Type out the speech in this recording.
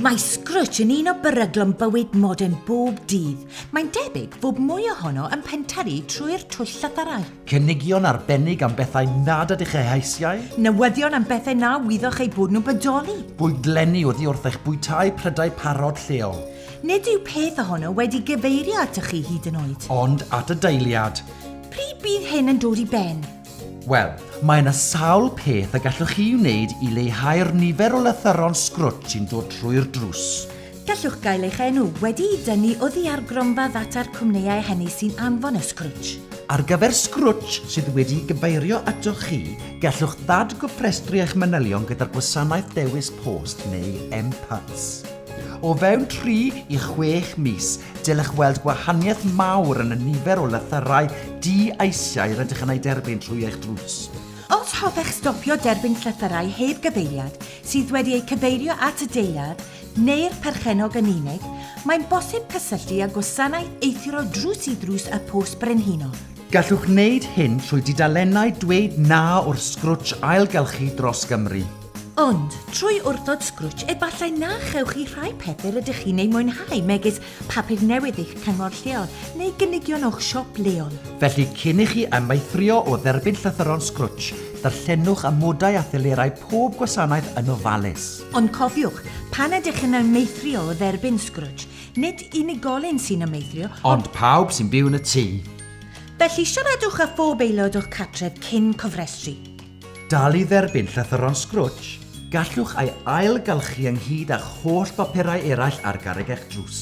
Mae Scrooge yn un o beryglon bywyd modern bob dydd. Mae'n debyg fod mwy ohono yn penteri trwy'r twll llythyrau. Cynigion arbennig am bethau nad ydych eu heisiau. Newyddion am bethau na wyddoch eu bod nhw'n bodoli. Bwydlenni oddi wrth eich bwytai prydau parod lleol. Nid yw peth ohono wedi gyfeirio atoch chi hyd yn oed. Ond at y deiliad. Pryd bydd hyn yn dod i ben? Wel, mae yna sawl peth y gallwch chi wneud i leihau'r nifer o lythyron sgrwtsh sy'n dod trwy'r drws. Gallwch gael eich enw wedi'i dynnu oddi ar gronfa ddata'r cwmnïau hynny sy'n anfon y sgrwtsh. Ar gyfer sgrwtsh sydd wedi'i gyfeirio atoch chi, gallwch ddadgofrestru eich manylion gyda'r gwasanaeth dewis post neu M-Pats. O fewn tri i chwech mis, Dylech weld gwahaniaeth mawr yn y nifer o lythyrau di-eisiau rydych yn eu derbyn trwy eich drws. Os hoffech stopio derbyn llythyrau heb gyfeiriad sydd wedi eu cyfeirio at y deiliad neu'r perchennog yn unig, mae'n bosib cysylltu â Gwasanaeth Eithrio Drws-i-Ddrws y Post Brenhinol. Gallwch wneud hyn trwy dudalennau Dweud Na o'r Sgrwtsh Ailgylchu dros Gymru. Ond, trwy wrthod Scrooge, efallai na chewch chi rhai pethau rydych chi'n eu mwynhau, megis papur newydd eich cyngor lleol neu gynigion o'ch siop leol. Felly, cyn i chi amaethrio o dderbyn llythyron Scrooge, darllenwch amodau a thelerau pob gwasanaeth yn ofalus. Ond cofiwch, pan ydych yn amaethrio o dderbyn Scrooge, nid unigolyn sy'n amaethrio, ond... Ond pawb sy'n byw yn y tŷ. Felly, siaradwch â phob aelod o'ch cartref cyn cofrestru. Dal i dderbyn llythyron Scrooge, gallwch ei ailgylchu ynghyd â'ch holl bapurau eraill ar garreg eich drws.